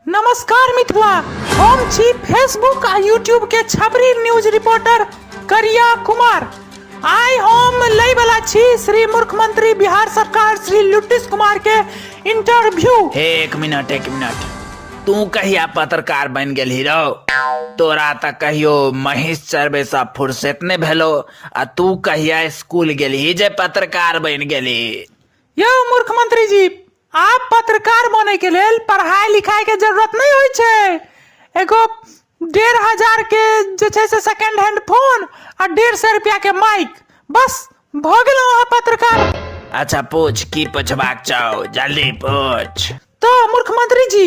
नमस्कार मिथिला हम छी फेसबुक आ यूट्यूब के छबरी न्यूज रिपोर्टर करिया कुमार आइ हम लै वाला छी श्री मुख्यमंत्री बिहार सरकार श्री लुटिस कुमार के इंटरव्यू हे एक मिनट एक मिनट तू कहिया पत्रकार बन गेल हीरो तोरा तऽ कहियो महींस चरबे सा फुर्सत नहि भेलो आ तू कहिया स्कूल गेलही जे पत्रकार बन गेली यौ मुख्यमंत्री जी आब पत्रकार बने के लेल पढ़ाई लिखाई के जरूरत नहीं होय छै एगो डेढ़ हजार के जे छै से सेकंड हैंड फोन आ डेढ़ सौ रुपया के माइक बस भ गेलो अहाँ पत्रकार अच्छा पूछ की पूछबाक चाहो जल्दी पूछ तो मूर्ख मंत्री जी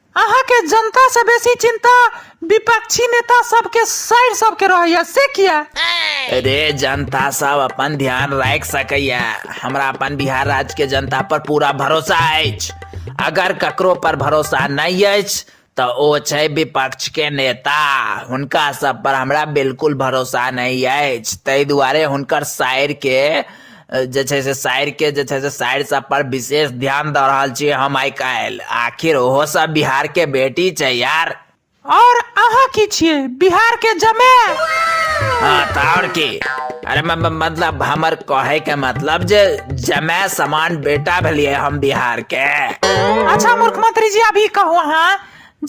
अहाँ के जनता से बेसी चिंता विपक्षी नेता सब के सैर सब के रहैया से किया अरे जनता सब अपन ध्यान राख सकैया हमरा अपन बिहार राज्य के जनता पर पूरा भरोसा अछि अगर ककरो पर भरोसा नहीं अछि तो ओ छै विपक्ष के नेता हुनका सब पर हमरा बिल्कुल भरोसा नहीं अछि ताहि दुआरे हुनकर शायर के जे छै से साइरके जे छै से साइर सब पर विशेष ध्यान दऽ रहल छी हम आइ काल्हि आखिर ओहो सब बिहारके बेटी छै यार और अहाँ की छियै बिहार के जमे हाँ तऽ आओर की अरे म- म- मतलब हमर कहे के मतलब जे जमे समान बेटा भेलिए हम बिहार के अच्छा मुख्यमंत्री जी अभी कहू अहाँ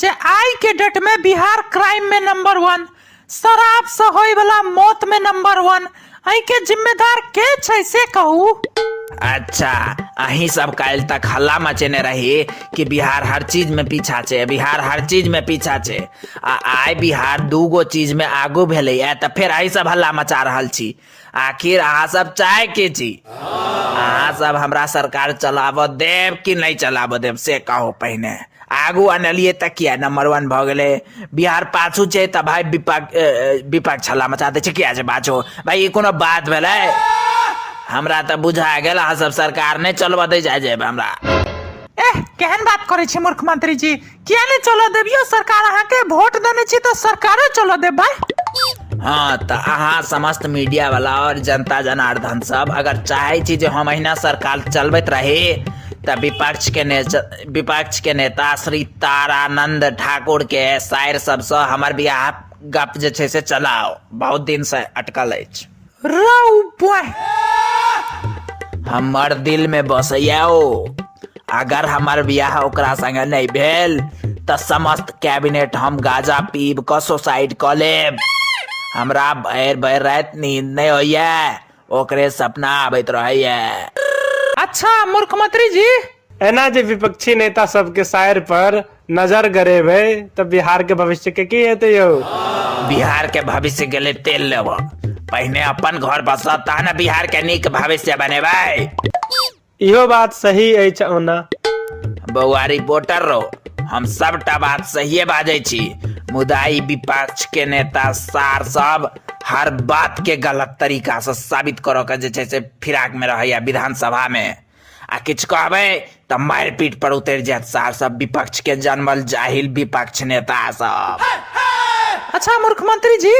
जे आइ के डेट में बिहार क्राइम में नंबर वन शराब से होय वाला मौत में नंबर वन अही के जिम्मेदार के छै से कहू अच्छा अही सब काल्हि तक हल्ला मचेने रही कि बिहार हर चीज में पीछा छै बिहार हर चीज में पीछा छै आ आइ बिहार दूगो चीज में आगू भेलैए तऽ फेर अही सब हल्ला मचा रहल छी आखिर अहाँ सब चाहे की छी अहाँ सब हमरा सरकार चलाबऽ देब कि नहि चलाबऽ देब से कहू पहिने आगू अनलियै तऽ किया नंबर वन भऽ गेलै बिहार पाछू छै तऽ भाय विपक्ष विपक्ष हल्ला मचा दै छै किया छै पाछू भाय ई कोनो बात भेलै हमरा तऽ बुझा गेल अहाँ सब सरकार नहि चलबऽ दै जाइ जेब हमरा एह केहन बात करै छी मूर्ख मंत्री जी किया नहि चलऽ देब यौ सरकार अहाँके वोट देने छी तऽ सरकारे चलऽ देबै हँ तऽ अहाँ समस्त मीडिया वाला और जनता जनार्दन सब अगर चाहे छी जे हम अहिना सरकार चलबैत रही तऽ विपक्ष के ने विपक्ष के नेता श्री तारानंद ठाकुर के साइर सबसँ हमर बियाह गप जे छै से चलाओ बहुत दिन से अटकल अछि हमर दिल में बसैया ओ अगर हमर बियाह ओकरा संगे नहीं भेल त समस्त कैबिनेट हम गाजा पीब क सुसाइड क लेब हमरा भैर भैर रात नींद नहीं होइया ओकरे सपना आबैत रहैया अच्छा मुख्यमंत्री जी एना जे विपक्षी नेता सबके शायर पर नजर गरेबै तऽ बिहार के भविष्य के की हेतै यौ बिहार के भविष्य के लिए तेल लेबो पहिने अपन घर बसा तहन बिहार के नीक भविष्य बनेबै इहो बात सही अछि ओना बौआ रिपोर्टर रो हम सबटा बात सहिए बाजै छी मुदा ई विपक्ष के नेता सार सब हर बात के गलत तरीका से साबित करऽ के जे छै से फिराक में रहैया विधानसभा में आ किछु कहबै तऽ मारि पीट पर उतरि जायत सार सब विपक्ष के जन्मल जाहिल विपक्ष नेता सब अच्छा मुख्यमंत्री जी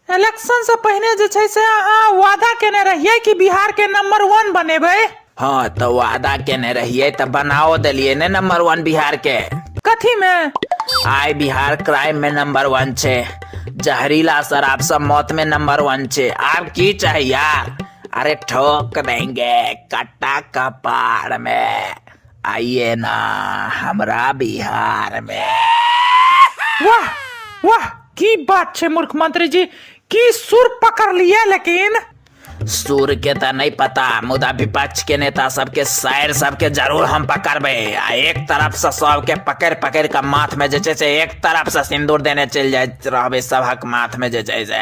इलेक्शन से पहिने जे छै से अहाँ वादा केने रहियै कि बिहार के नंबर वन बनेबै हाँ तो वादा केने रहिए तो बनाओ दिलिए ने नंबर वन बिहार के कथी मे आय बिहार क्राइम में नंबर वन छे जहरीला शराब सब मौत में नंबर वन छे आब की चाही यार अरे ठोक देंगे कट्टा कपार में आइए ना हमरा बिहार में वाह वाह की बात छै मूर्ख मंत्री जी की सुर पकड़ लिया लेकिन सूर के त नहीं पता मुदा विपक्ष के नेता सबके शायर सबके जरूर हम पकड़बे आ एक तरफ से सबके पकड़ पकड़ के माथ में जे छै से एक तरफ से सिंदूर देने चल जाए रहबे सबहक माथ में जे छै से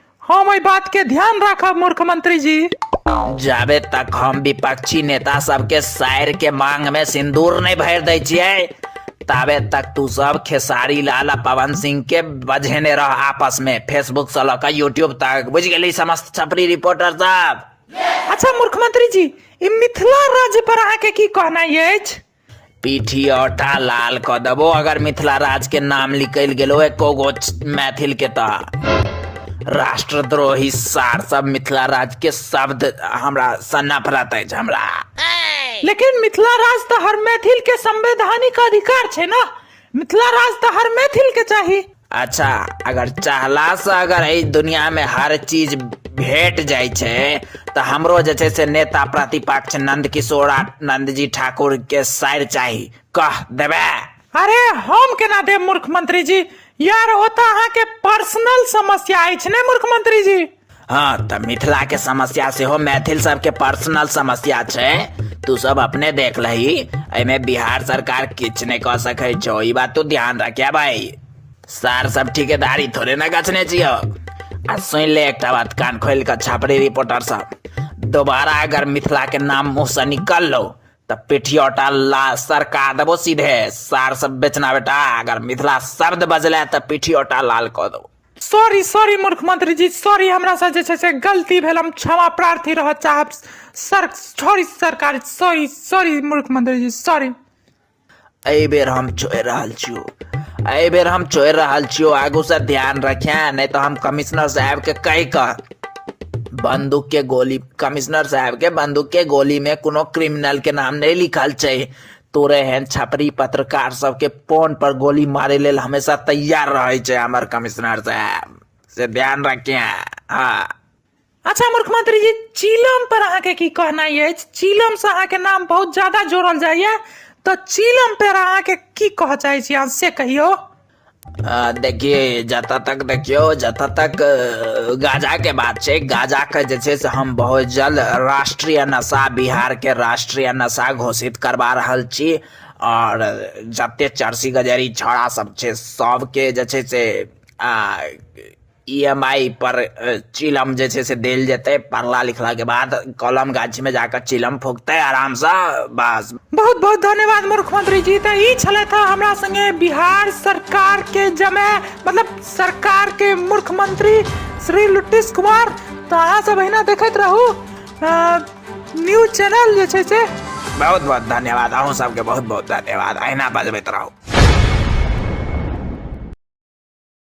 हम एहि बात के ध्यान राखब मूर्ख मंत्री जी जाबे तक हम विपक्षी नेता सबके शायर के मांग में सिंदूर नहीं भर दै छियै ताबे तक तू सब खेसारी लाल आ पवन सिंह के बझेने रह आपस में फेसबुक से लऽ कऽ यूट्यूब तक बुझ गेली समस्त छपरी रिपोर्टर सब अच्छा मूर्ख मंत्री जी ई मिथिला राज्य पर अहाँके की कहनाइ अछि पीठी और टा लाल क देबो अगर मिथिला राज के नाम निकल गेलो एको गो मैथिल के तो राष्ट्रद्रोही सार सब मिथिला राज के शब्द हमरा से नफरत अछि हमरा लेकिन मिथिला राज तो हर मैथिल के संवैधानिक अधिकार छे ना मिथिला राज तो हर मैथिल के चाहिए अच्छा अगर चाहला से अगर एहि दुनिया में हर चीज भेट जाय छै तऽ हमरो जे छै से नेता प्रतिपक्ष नंद किशोर आ नंद जी ठाकुर के साइर चाही कह देबे अरे हम केना देब मूर्ख मंत्री जी यार ओ तऽ अहाँके पर्सनल समस्या अछि ने मूर्ख मंत्री जी हाँ तऽ मिथिला के समस्या सेहो मैथिल सबके पर्सनल समस्या छै तू सब अपने देख लही एहिमे बिहार सरकार किछु नहि कऽ सकै छौ ई बात तू ध्यान रखे भाई सार सब ठिकेदारी थोड़े ने गछने छियौ आ सुनि ले एकटा बात कान खोलि कऽ छापरी रिपोर्टर सब दोबारा अगर मिथिला के नाम मुँह से निकल लो तऽ पिठियोटा ला सरका देबो सीधे सार सब बेचना बेटा अगर मिथिला शब्द बजले तऽ पिठियोटा लाल कऽ देबो सॉरी सॉरी मूर्ख मंत्री जी सॉरी हमरा से जे छै से गलती भेल हम क्षमा प्रार्थी रहऽ चाहब सर सॉरी सरकार सॉरी सॉरी मूर्ख मंत्री जी सॉरी एहि बेर हम छोड़ि रहल छियौ एहि बेर हम छोड़ि रहल छियौ आगू से ध्यान रखे नहि तऽ हम कमिश्नर साहब के कहि कऽ बंदूक के गोली कमिश्नर साहब के बंदूक के गोली में कोनो क्रिमिनल के नाम नहीं लिखल छै तोरे एहन छपरी पत्रकार सबके फोन पर गोली मारे लेल हमेशा तैयार रहे छै हमर कमिश्नर साहब से ध्यान रखिए हाँ अच्छा मुख्यमंत्री जी चीलम पर अहाँके की कहनाइ अछि चीलम से अहाँके नाम बहुत ज्यादा जोड़ल जाइए तऽ चीलम पर अहाँके की कहऽ चाहै छी अहाँ से कहियौ आ, देखिए जतऽ तक देखियो जतऽ तक अ, गाजाके बात छै गाजाके जे छै से हम बहुत जल्द राष्ट्रीय नशा बिहारके राष्ट्रीय नशा घोषित करबा रहल छी आओर जते चर्सी गजेरी छौड़ा सब छै सबके जे छै से आ ई एम आइ पर चिलम जे छै से देल जेतै पढ़ला लिखलाके बाद कलम गाछीमे जाकऽ चिलम फूकतै आरामसँ बस बहुत बहुत धन्यवाद मुख्यमंत्री जी तऽ ई छलै था हमरा संगे बिहार सरकार के जमे मतलब सरकार के मुख्यमंत्री श्री लुटिस कुमार तऽ अहाँ सब अहिना देखैत रहू न्यूज चैनल जे छै से बहुत बहुत धन्यवाद अहूँ सबके बहुत बहुत धन्यवाद अहिना बजबैत रहू